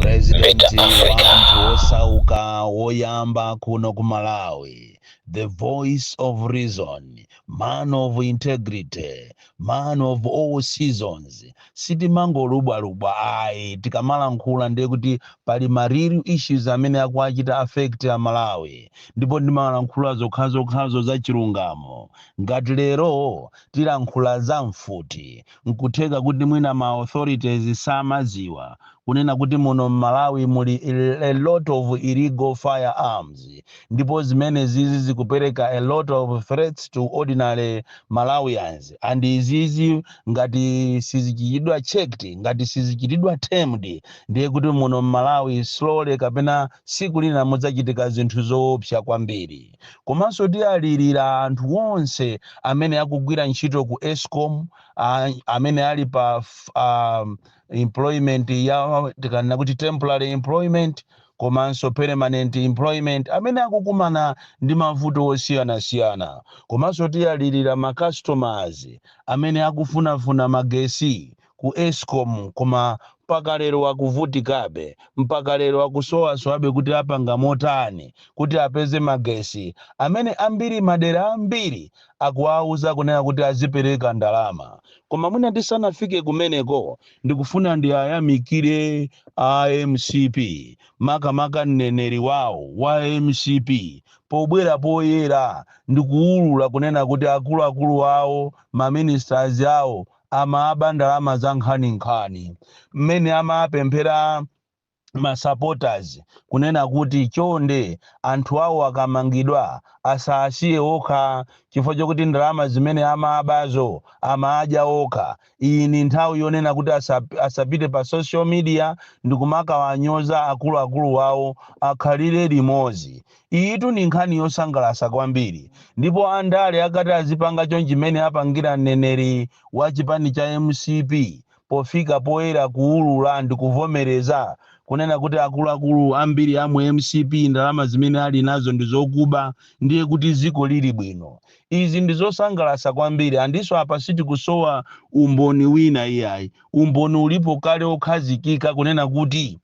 President wa anthu osauka woyamba kuno ku Malawi, the voice of reason, man of integrity, man of all seasons, sitimangolubwalubwa ayi tikamalankhula ndiye kuti pali ma real issues amene akuchita affect a Malawi ndipo ndimalankhula zokhazokhazo za chilungamo ngati lero tilankhula za mfuti nkutheka kuti mwina ma authorities samaziwa kunena kuti muno mmalawi muli a lot of illegal firearms ndipo zimenezizi zikupereka a lot of threats to ordinary malawians and izizi ngati sizichitidwa checked ngati sizichitidwa tamed ndiye kuti muno mmalawi slowly kapena siku lina mudzachitika zinthu zoopsa kwambiri komanso tiyalirira anthu onse amene akugwira ntchito ku escom a- amene ali pa f- um, employment ya tikanena kuti temporary employment komanso permanent employment amene akukumana ndi mavuto osiyanasiyana komanso tiyalirira ma customers amene akufunafuna magesi ku escom koma mpaka lero akuvutikabe mpaka lero akusowasowabe kuti apanga motani kuti apeze magesi amene ambiri madera ambiri akuwauza kunena kuti azipereka ndalama koma mwina tisanafike kumeneko ndikufuna ndiayamikire a mcp makamaka mneneri wawo wa mcp pobwera poyera ndikuwulula kunena kuti akuluakulu awo maministers awo amaba ndalama za nkhaninkhani mmene amapempherera ma supporters kunena kuti chonde anthu awo akamangidwa asawasiye okha chifukwa chokuti ndalama zimene amabazo samadya okha, iyi ndi nthawi yonena kuti asapite pa social media ndikumakawanyoza akuluakulu wawo akalire limodzi. Iyitu ndi nkhani yosangalasa kwambiri ndipo andale akati azipanga chonchi mmene apangira mneneri wa chipani cha mcp pofika poyera kuulula ndikuvomereza kunena kuti akuluakulu ambiri a mu mcp ndalama zimene ali nazo ndizokuba ndiye kuti ziko lili bwino? Izi ndizosangalasa kwambiri andinso apa sitikusowa umboni wina iyayi umboni ulipo kale okhazikika kunena kuti.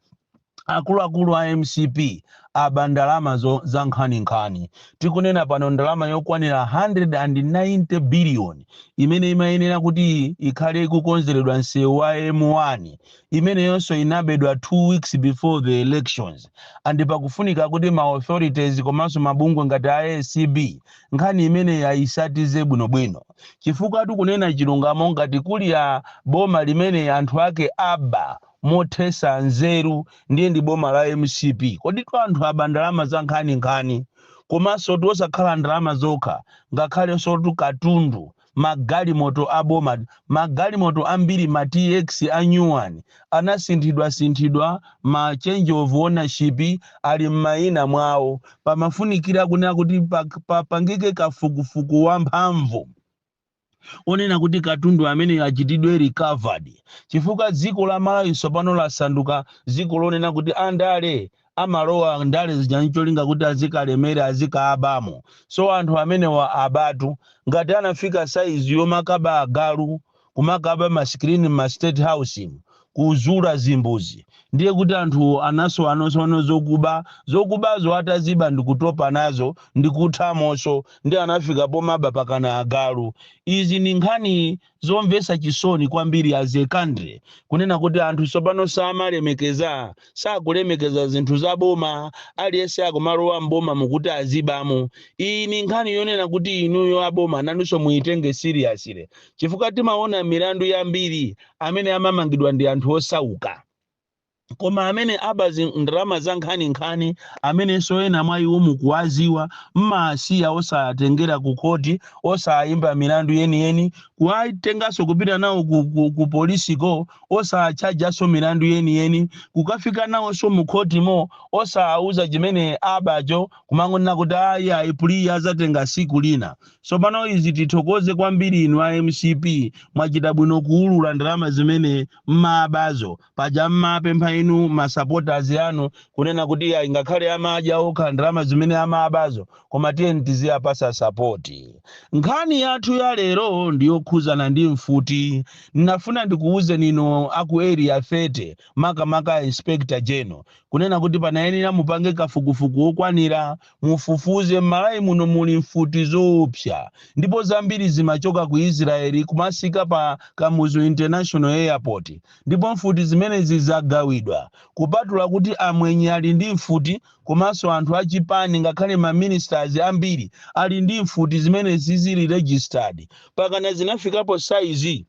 Akuluakulu a mcp aba ndalama zankhaninkhani. Tikunena pano ndalama yokwanira 190 billion imene imayenera kuti ikhale ikukonzeredwa msewu wa M1 imeneyonso inabedwa 2 weeks before the elections and pakufunika kuti ma authorities komanso mabungwe ngati a acb nkhani imeneyi ayisatize bwinobwino chifukwa tikunena chilungamo ngati kuli a boma limene anthu ake aba mothesa nzeru ndiye ndi boma la mcp koditu anthu aba ndalama zankhaninkhani komansotu osakhala ndalama zokha ngakhalensotu katundu magalimoto a boma magalimoto ambiri ma tx a new one anasinthidwasinthidwa ma change of ownership ali m'mayina mwawo pamafunikira kunena kuti pa- papangike kafukufuku wamphamvu onena kuti katundu ameneyo achitidwe recovered chifukwa dziko la malawi tsopano lasanduka dziko lonena kuti andale amalowa ndale zija ncholinga kuti azikalemera azikabamo so anthu amenewa abatu ngati anafika saizi yomakaba agalu kumakaba masikirini mma state house mu kuzula zimbuzi ndiye kuti anthuwo anasowanosowano zokuba zokubazo ataziba ndikutopa nazo ndikuthamoso ndiye anafika pomaba pakana agalu izi ndi nkhani zomvesa chisoni kwambiri as a country kunena kuti anthu sopano samalemekeza sakulemekeza zinthu za boma aliyense akumalowa m'bomamu kuti azibamo iyi ni nkhani yonena kuti inuyo aboma nanunso muyitenge seriously chifukwa timaona milandu yambiri amene amamangidwa ndi anthu osauka koma amene aba zi- ndalama zankhaninkhani amenenso ena mwa iwo mukuwaziwa mmasiya osawatengera ku khoti osawayimba milandu yeniyeni kuwatenganso kupita nawo ku, ku, ku polisiko osawatchajanso milandu yeniyeni kukafika nawonso mu khotimo osawauza chimene abacho kumangonena kuti ayi ayi plea azatenga siku lina sopano izi tithokoze kwambiri inu a mcp mwachita bwino kuulula ndalama zimene mmabazo paja mmaapempha inu ma supporters anu kunena kuti ayi ngakhale amadya okha ndalama zimene amabazo koma tiyeni tiziwapasa support. Nkhani yathu ya lero ndi yokhuzana ndi mfuti, ndinafuna ndikuwuzeni inu a ku area 30 makamaka a inspector general kunena kuti panayenera mupange kafukufuku wokwanira mufufuze m'malawi muno muli mfuti zoopsa ndipo zambiri zimachoka ku Israel kumasikira pa Kamuzu international airport ndipo mfuti zimenezi zagawidwa kupatula kuti amwenye ali ndi mfuti Komanso anthu a chipani ngakhale ma ministers ambiri ali ndi mfuti zimene zisili registered. Pakana zinafikapo size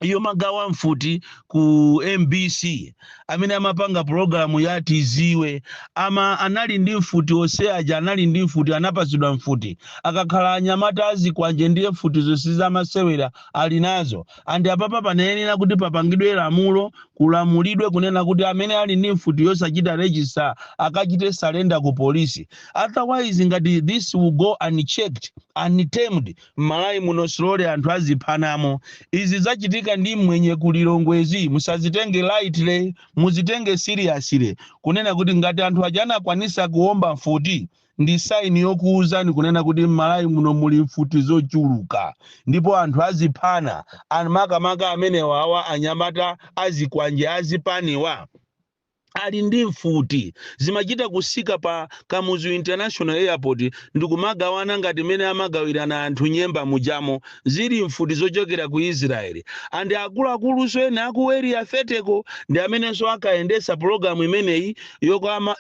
yomagawa mfuti ku mbc. Amene amapanga pulogalamu ya Tiziwe ama anali ndi mfuti ose aja anali ndi mfuti anapatsidwa mfuti. Akakhala anyamata azikwanje ndiye mfutizo sizamasewera ali nazo. and apapa panayenera kuti papangidwe lamulo kulamulidwe kunena kuti amene ali ndi mfuti yosachita register akachite surrender ku police otherwise ngati this will go unchecked untamed m'malawi muno slowly anthu aziphanamo izi zachitika ndi mmwenye ku Lilongwezi musazitenge lightly muzitenge seriously kunena kuti ngati anthu aja anakwanisa kuomba mfuti ndi sign yokuuzani kunena kuti mmalawi muno muli mfuti zochuluka ndipo anthu aziphana and makamaka amenewawa anyamata azikwanje azipaniwa ali ndi mfuti zimachita kusika pa kamuzu international airport ndikumagawana ngati mene amagawirana anthu nyemba mujamo zili mfuti zochokera ku israeli and akuluakulunso ena aku area 30 ko ndi amenenso ankayendetsa pulogalamu imeneyi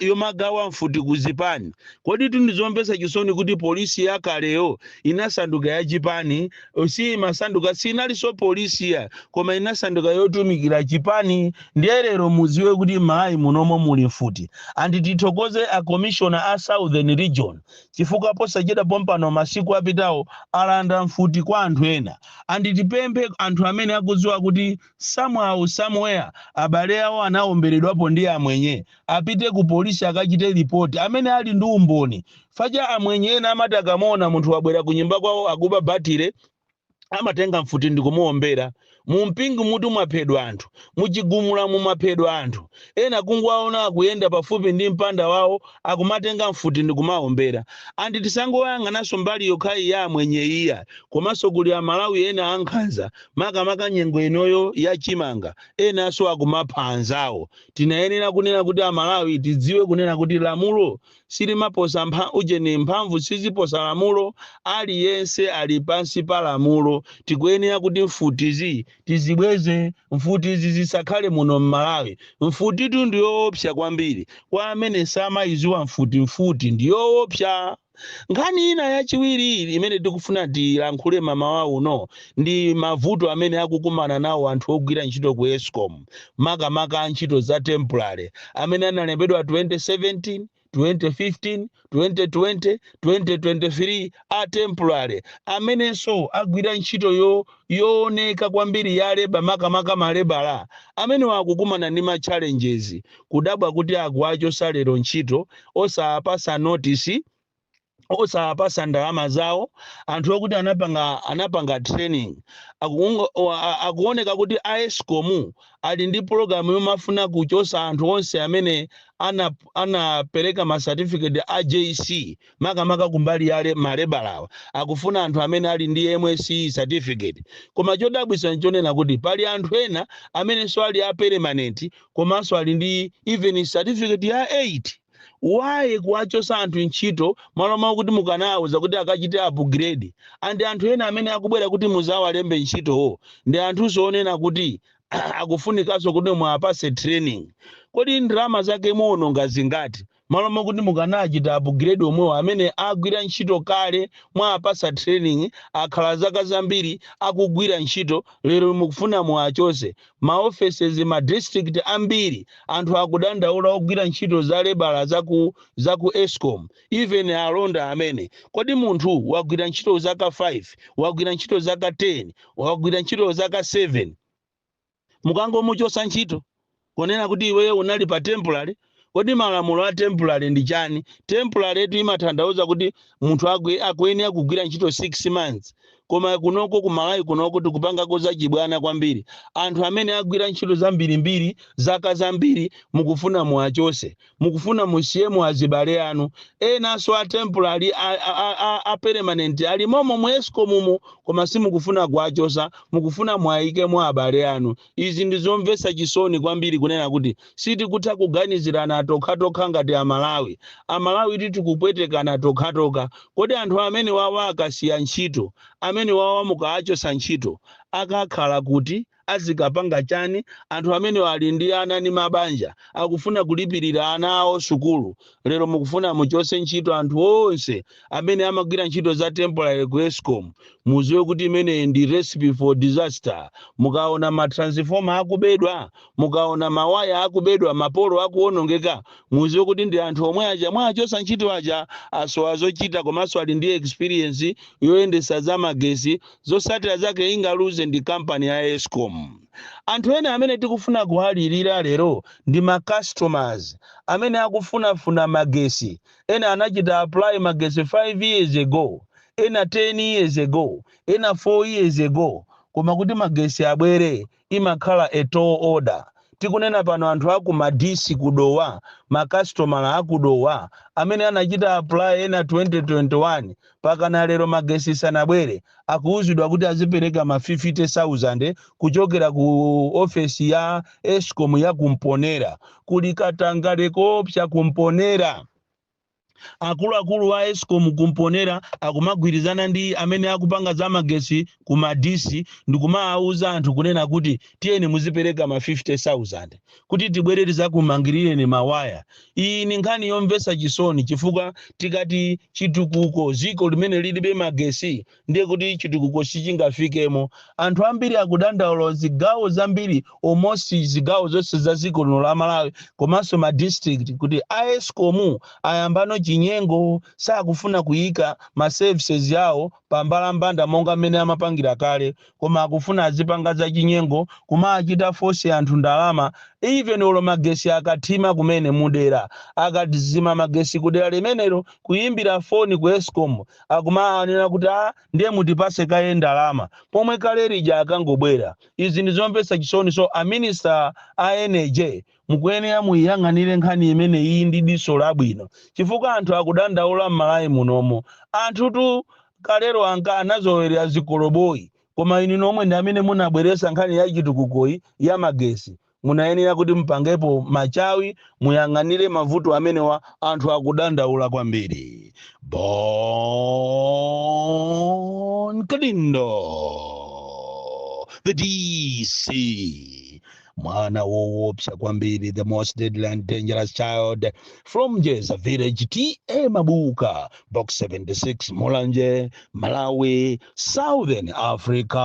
yomagawa mfuti ku zipani koditu ndi zomvetsa chisoni kuti polisi yakaleyo inasanduka yachipani si imasanduka sinalinso polisi ya koma inasanduka yotumikira chipani ndiye lero mudziwe kuti m'malawi munomo muli mfuti and tithokoze a commissioner a southern region chifukwa posachedwa pompano masiku apitawo alanda mfuti kwa anthu ena and tipemphe anthu amene akudziwa kuti Somehow, somewhere abale awo anawomberedwapo ndi amwenye, apite ku police akachite report, amene ali ndi umboni, paja amwenye ena amati akamaona munthu wabwera ku nyumba kwawo akuba battery, amatenga mfuti ndikumuwombera. Mu Mpingumutu mwaphedwa anthu, mu Chigumulamu mwaphedwa anthu, ena kungowaona akuyenda pafupi ndi mpanda wawo akumatenga mfuti ndikumawombera. And tisangoyang'ananso mbali yokhayi ya amwenye iya, komanso kuli a Malawi ena ankhanza, makamaka nyengo inoyo ya chimanga enanso akumapha anzawo. Tinayenera kunena kuti Amalawi tidziwe kunena kuti lamulo silimaposa ujeni, mphamvu siziposa lamulo, aliyense ali pansi pa lamulo. Tikuyenera kuti mfutizi tizibweze, mfutizi zisakhale muno m'Malawi. Mfutitu ndi yoopsa kwambiri, kwa amene samayidziwa mfuti, mfuti ndi yoopsa. Nkhani ina yachiwiri imene tikufuna tilankhule mamawa uno ndi mavuto amene akukumana nawo anthu ogwira ntchito ku escom makamaka antchito za temporary amene analembedwa 2017, 2015, 2020, 2023 a temporary amenenso agwira ntchito yo. yooneka kwambiri ya leba makamaka malebala amenewa akukumana ndi ma challenges kudabwa kuti akuwachosa lero ntchito osawapasa notice osawapasa ndalama zawo anthu okuti anapanga anapanga training akuoneka kuti a escom ali ndi pologalamu yomafuna kuchosa anthu onse amene ana- anapereka ma certificate a jc makamaka kumbali ya le, malebalawa akufuna anthu amene ali ndi MSCE certificate koma chodabwitsa nchonena kuti pali anthu ena amenenso ali a permanent komanso ali ndi even certificate ya 8 why kuwachosa anthu ntchito malo moti mukanawauza kuti akachite upgrade and anthu ena amene akubwera kuti muzawalembe ntchitowo ndi anthunso onena kuti akufunikanso kuti muwapase training kodi ndalama zake muwononga zingati Malo mokuti mukanachita upgrade omwewo amene agwira ntchito kale mwawapasa training akhala zaka zambiri akugwira ntchito lero mukufuna muwachose? Ma offices ma district ambiri anthu akudandaula ogwira ntchito za lebala zaku zaku escom even alonda amene. Kodi munthu wagwira ntchito zaka 5 wagwira ntchito zaka 10 wagwira ntchito zaka 7. mukangomuchotsa ntchito kunena kuti iweyo unali pa temporary kodi malamulo a temporary ndi chani temporary tu imatanthauza kuti munthu akwe- akuyenera kugwira ntchito 6 months koma kunoko ku malawi kunoko tikupangako zachibwana kwambiri anthu amene agwira ntchito zambirimbiri zaka zambiri mukufuna muwachose mukufuna musiyemo azibale anu enanso a temporary a, a, a, a permanent ali momo mu escom mo koma simukufuna kuwachosa mukufuna muwayikemo abale anu izi ndi zomvetsa chisoni kwambiri kunena kuti sitikutha kuganizirana tokhatokha ngati amalawi amalawi ti tikupwetekana tokhatokha kodi anthu amene wawa akasiya ntchito amene wawa mukawachosa ntchito akakhala kuti azikapanga chani anthu amenewa ali ndi ana ndi mabanja akufuna kulipirira ana awo sukulu lero mukufuna muchose ntchito anthu onse amene amagwira ntchito za temporary ku escom muziwe kuti imeneyi ndi recipe for disaster mukaona ma transformer akubedwa mukaona mawaya akubedwa mapolo akuonongeka muziwe kuti ndi anthu omwe aja mwachosa ntchito aja asowa zochita komanso ali ndi experience yoyendesa za magesi Zotsatira zake ingaluze ndi company ya escom. Anthu ena amene tikufuna kuwalilira lero ndi ma customers amene akufunafuna magesi. Ena anachita apply magesi 5 years ago, ena 10 years ago, ena 4 years ago koma kuti magesi abwere imakhala a tall order. Tikunena pano anthu a ku Madisi ku Dowa, ma kasitomala a ku Dowa amene anachita apply ena 2021 mpakana lero magesi sanabwere, akuuzidwa kuti azipereka ma 50,000 kuchokera ku ofesi ya Escom ya ku Mponela. Kuli katangale koopsa ku Mponela. Akuluakulu a Escom ku Mponela akumagwirizana ndi amene akupanga za magesi ku Madisi ndikumaauza anthu kunena kuti tiyeni muzipereka ma 50,000 kuti tibwere tizakumangirireni ma waya. Iyi ndi nkhani yomvetsa chisoni chifukwa tikati chitukuko dziko limene lilibe magesi ndiye kuti chitukuko sichingafikemo anthu ambiri akudandaula zigawo zambiri almost zigawo zonse za dziko lino la Malawi komanso ma district kuti a Escom ayambano chinyengo sakufuna kuyika ma services yawo pa mbalambanda monga mmene amapangira kale koma akufuna azipanga zachinyengo kumawachitira force anthu ndalama even olo magesi akathima kumene mudera akadzima magesi kudera limenelo kuyimbira foni ku Escom akumanena kuti a ndiye mutipase kaye ndalama pomwe kale lija akangobwera izi ndizomvetsa chisoni so a minister a energy Mukuyenera muiyang'anire nkhani imeneyi ndi diso labwino chifukwa anthu akudandaula m'Malawi munomo. Anthutu kalero ankanazolowelera zikoloboyi koma inu nomwe ndi amene munabweresa nkhani ya chitukukoyi ya magesi. Munayenera kuti mupangepo machawi muyang'anire mavuto amenewa anthu akudandaula kwambiri. Bon Kalindo the DC. mwana wowopsa kwambiri the most deadly and dangerous child from jeza village ta mabuka box 76 mulanje malawi southern africa